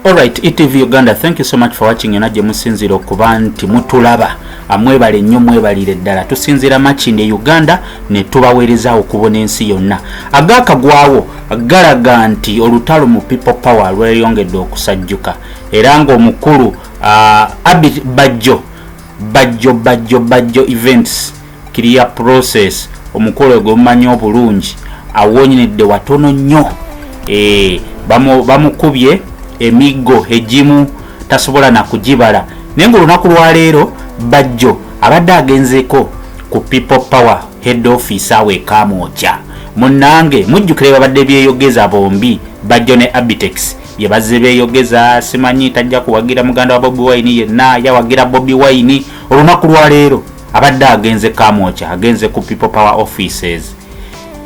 Alright, ETV Uganda, thank you so much for watching ena gye musinzira okuba nti mutulaba amwebale nnyo mwebalire ddala tusinzira makinde Uganda ne tubaweereza okubona ensi yonna agaakagwawo galaga nti olutalo mu people power lweyongedde okusajjuka era ng'omukulu uh, Abid Bajjo Bajjo Bajjo Bajjo events clear process omukolo gwemumanyi obulungi awonyedde watono nnyo eh, bamukubye emiggo egimu tasobola nakugibala naye nga olunaku lwaleero bajjo abadde agenzeko ku people power head office awo ekamwokya munange mujjukire babadde byeyogeza bombi bajjo ne abitex bye bazze beeyogeza simanyi tajja kuwagira muganda wa bobi wine yenna yawagira bobi wine olunaku lwaleero abadde agenze kamwoca agenze ku people power offices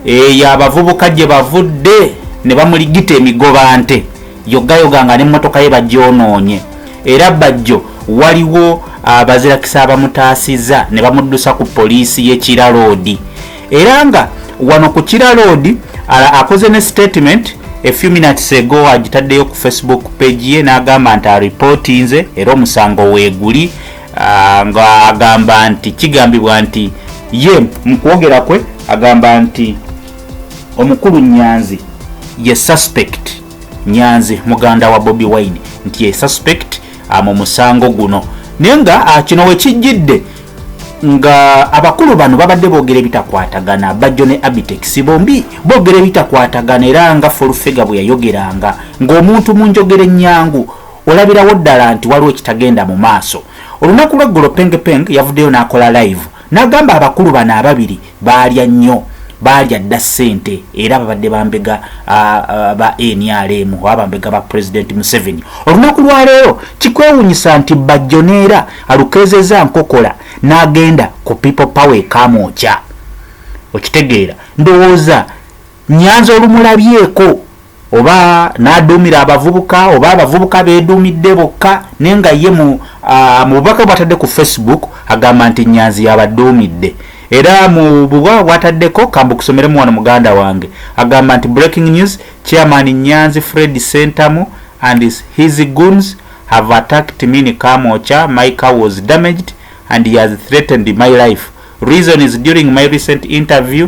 eyo abavubuka gye bavudde ne bamuligita emigoba nte yogayoga nga n'emmotoka ye bagyonoonye era bajjo waliwo abazirakisa abamutaasiza ne bamuddusa ku poliisi y'e kiraloodi era nga wano ku kiraloodi akoze ne statement a few minutes ago agitaddeyo ku facebook page ye n'agamba nti aripootinze era omusango weeguli ah, nga agamba nti kigambibwa nti ye mu kwogera kwe agamba nti omukulu nyanzi ye suspect nyanzi muganda wa bobi wine nti ye suspect ah, mu musango guno naye nga ah, kino wekijjidde nga abakulu bano babadde bogera ebitakwatagana bajjo ne abitex bombi bogera ebitakwatagana era nga folfega bwe yayogeranga ng'omuntu mu njogera ennyangu olabirawo ddala nti waliwo ekitagenda mu maaso olunaku lweggulo pengpeng yavuddeyo n'akola live n'agamba abakulu bano ababiri baalya nnyo baalya dda ssente era babadde bambega ba nrm oba bambega ba pulezidenti museveni olunaku lwaleero kikwewunyisa nti bajjo neera alukeezeza nkokola n'agenda ku people power ekamwokya okitegeera ndowooza nyanza olumulabyeko oba n'aduumira abavubuka oba abavubuka beeduumidde bokka naye nga ye mu bubaka bwatadde ku facebook agamba nti nyanzi yabaduumidde era mu bubaka bwataddeko kambu kusomeremu wano muganda wange agamba nti breaking news chairman nyanzi fred sentamu and his guns have attacked me in kamocha my car was damaged and he has threatened my life reason is during my recent interview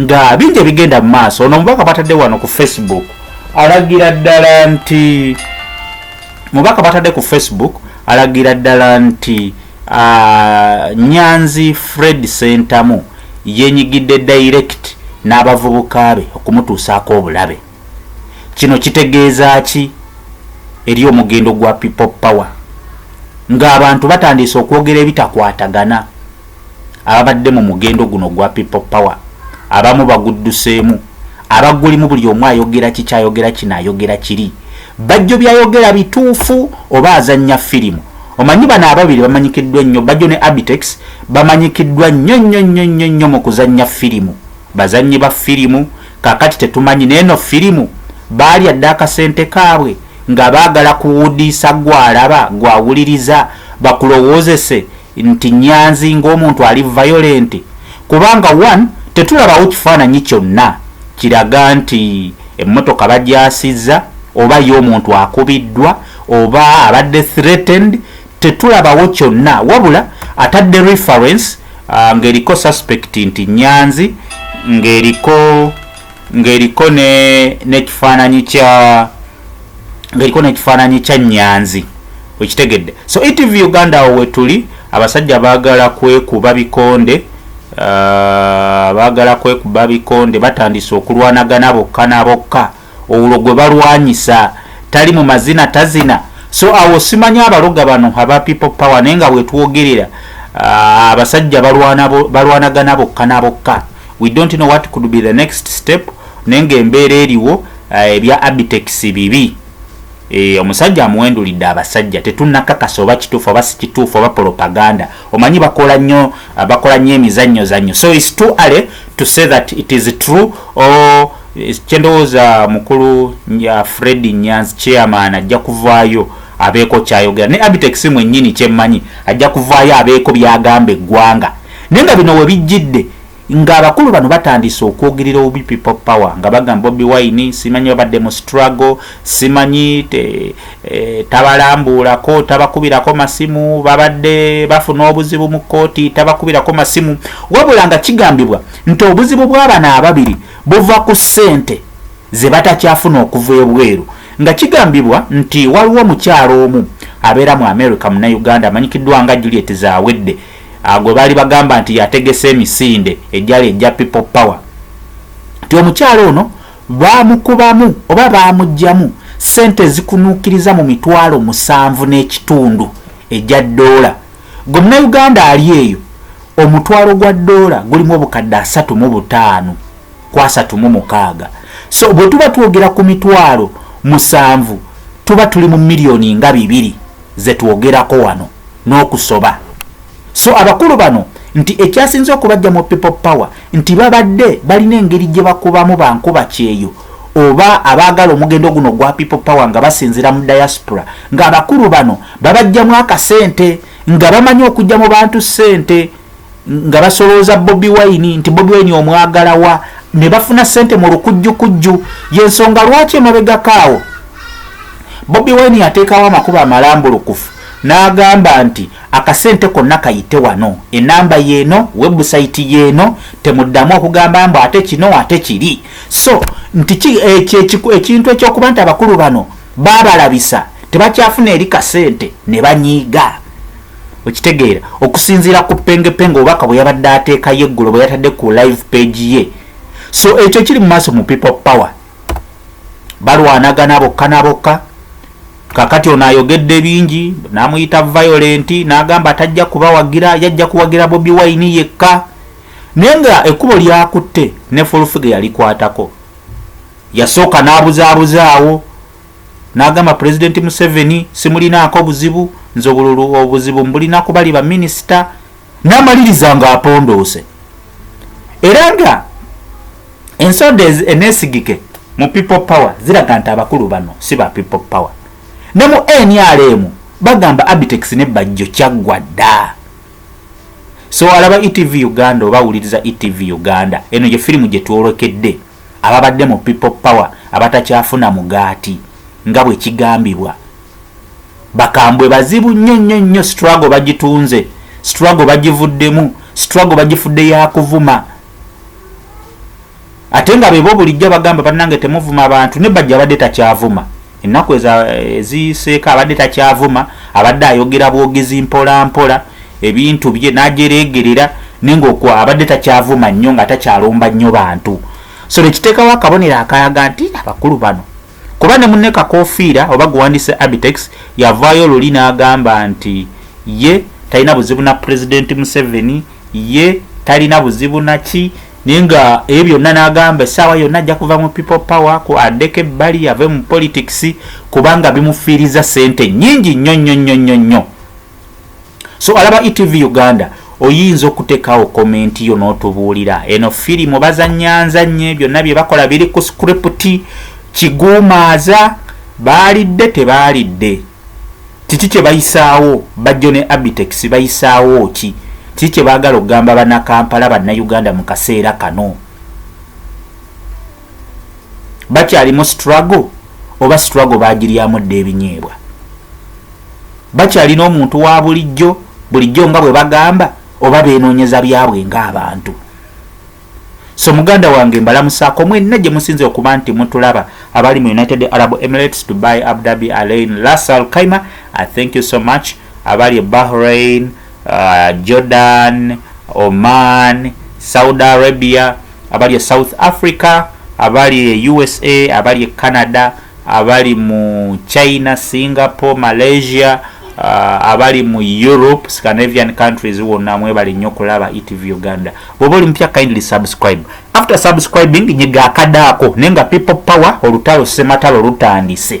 nga bingi ebigenda mu maaso ono omubaka batadde wano ku facebook alagira ddala nti mubaka batadde ku facebook alagira ddala nti uh, nyanzi fred sentamu yenyigidde direct n'abavubuka be okumutuusaako obulabe kino kitegeeza ki eri omugendo gwa people power ng'abantu batandiise okwogera ebitakwatagana ababadde mu mugendo guno gwa people power abamu bagudduseemu abagulimu buli omu ayogera kikyayogera kino ayogera kiri bajjo byayogera bituufu oba azannya firimu omanyi bano ababiri bamanyikiddwa ennyo bajjo ne abitex bamanyikiddwa nnyo nnyo nnyo nnyo nnyo mu kuzannya firimu bazannyi ba firimu kakati tetumanyi neeno firimu baalya dda akasente kaabwe nga baagala kuwudiisa gwalaba gwawuliriza bakulowoozese nti Nyanzi ng'omuntu ali violent kubanga one tetulabawo kifaananyi kyonna kiraga nti emmotoka bagyasizza oba ye omuntu akubiddwa oba abadde threatened tetulabawo kyonna wabula atadde reference uh, ng'eriko suspect nti Nyanzi ng'eriko ng'eriko n'ekifaananyi kya ngaliko nekifaananyi kya nyanzi okitegedde so etv uganda awo wetuli abasajja bagala kwekuba bikonde uh, bagala kwekuba bikonde batandise okulwanagana bokka nabokka olwo gwe balwanyisa tali mu mazina tazina so awo simanyi abaloga bano aba people power naye nga wetwogerera uh, abasajja balwanagana bokka nabokka we don't know what could be the next step naye nga embeera eriwo Eh, ebya abitex bibi eh, omusajja amuwendulidde abasajja tetunakakasa oba kituufu oba sikituufu oba propaganda omanyi bakola nnyo ah, bakola nnyo emizannyo zannyo so is too early to say that it is true or eh, kyendowooza mukulu ya fred nyanzi chairman ajja kuvaayo abeeko kyayogera ne abitex mwennyini kyemmanyi ajja kuvaayo abeeko byagamba eggwanga naye nga bino we bijjidde ng'abakulu bano batandise okwogerera obubi people power nga bagamba bobi wine simanyi babadde mu struggle simanyi te, e, tabalambuulako tabakubirako masimu babadde bafuna obuzibu mu kkooti tabakubirako masimu wabula nga kigambibwa nti obuzibu bw'abana ababiri buva ku ssente ze batakyafuna okuva ebweru nga kigambibwa nti waliwo omukyalo omu abeera mu america munauganda amanyikiddwa nga juliet zawedde ah, gwe baali bagamba nti yategese emisinde egyali egya people power nti omukyala ono baamukubamu oba baamuggyamu ssente ezikunuukiriza mu mitwalo musanvu n'ekitundu egya ddoola gwe munauganda ali eyo omutwalo gwa ddoola gulimu obukadde asatu mu butaano ku asatu mu mukaaga so bwe tuba twogera ku mitwalo musanvu tuba tuli mu miliyoni nga bibiri zetwogerako wano n'okusoba so abakulu bano nti ekyasinze okubajja mu people power nti babadde balina engeri gye bakubamu bankuba kyeyo oba abaagala omugendo guno gwa people power nga basinzira mu diaspora ng'abakulu bano babajjamu akasente nga bamanyi okujja mu bantu ssente nga basolooza bobi wine nti bobi wine omwagalawa ne bafuna sente mu lukujjukujju yensonga lwaki emabegakaawo bobi wine yateekawo amakuba amalambulukufu n'agamba nti akasente konna kayite wano enamba yeeno webusayiti yeeno temuddamu okugamba mbu ate kino ate kiri so nti ekintu ekyokuba nti abakulu bano babalabisa tebakyafuna eri kasente ne banyiiga okitegeera okusinziira ku pengepenge obubaka bwe yabadde ateekayo eggulo bwe yatadde ku live page ye so ekyo kiri mu maaso mu people power balwanagana bokka na bokka kakati ono ayogedde bingi namuyita violent n'agamba atajja kubawagira yajja kuwagira bobi wine yekka naye nga ekkubo lyakutte ne fulfiga yalikwatako yasooka n'abuzabuzaawo n'agamba pulezidenti museveni simulinaako buzibu nze obululu obuzibu mbulina kubali baminisita n'amaliriza nga apondoose era nga ensonda eneesigike mu people power ziraga nti abakulu bano si ba people power ne mu nrm bagamba abitex ne bajjo kyaggwa dda so alaba etv uganda oba awuliriza etv uganda eno gye firimu gye twolokedde ababadde mu people power abatakyafuna mugaati nga bwe kigambibwa bakambwe bazibu nnyo nnyo nnyo struggle bagitunze struggle bagivuddemu struggle bagifudde yakuvuma ate nga bebo bulijjo bagamba banange temuvuma abantu ne bajja badde takyavuma ennaku eziyiseeko abadde takyavuma abadde ayogera bwogezi mpolampola ebintu bye najereegerera naye ngaoku abadde takyavuma nnyo nga takyalomba nnyo bantu so nekiteekawo akabonero akalaga nti abakulu bano kuba ne munne kakofiira oba gwewandise abitex yavaayo luli n'agamba nti ye talina buzibu na pulezidenti museveni ye talina buzibu naki naye nga ebyo byonna n'agamba essaawa yonna ajja kuva mu people power ku adeko ebbali ave mu politics kubanga bimufiiriza sente nyingi nnyo nnyo nnyo nnyo nnyo so alaba etv uganda oyinza okuteekawo komenti yo n'otubuulira eno firimu bazanyanza nnyo byonna bye bakola biri ku script kiguumaaza baalidde tebaalidde kiki kye bayisaawo bajjo ne abitex bayisaawo ki kiki kye baagala okugamba banakampala bannayuganda mu kaseera kano bakyalimu struggle oba struggle baagiryamu dda ebinyeebwa bakyalina omuntu wa bulijjo bulijjo nga bwe bagamba oba beenoonyeza byabwe ng'abantu so muganda wange mbalamusaako mwenna gye musinze okuba nti mutulaba abali mu united arab emirates dubai abdabi alain lasal kaima i thank you so much abali e bahrain uh, jordan oman saudi arabia abali e south africa abali e usa abali e canada abali mu china singapore malaysia uh, abali mu europe scandinavian countries wonna mwebali nnyo kulaba etv uganda bwoba oli mupya kindly subscribe after subscribing nyiga akadaako naye nga people power olutalo sematalo lutandise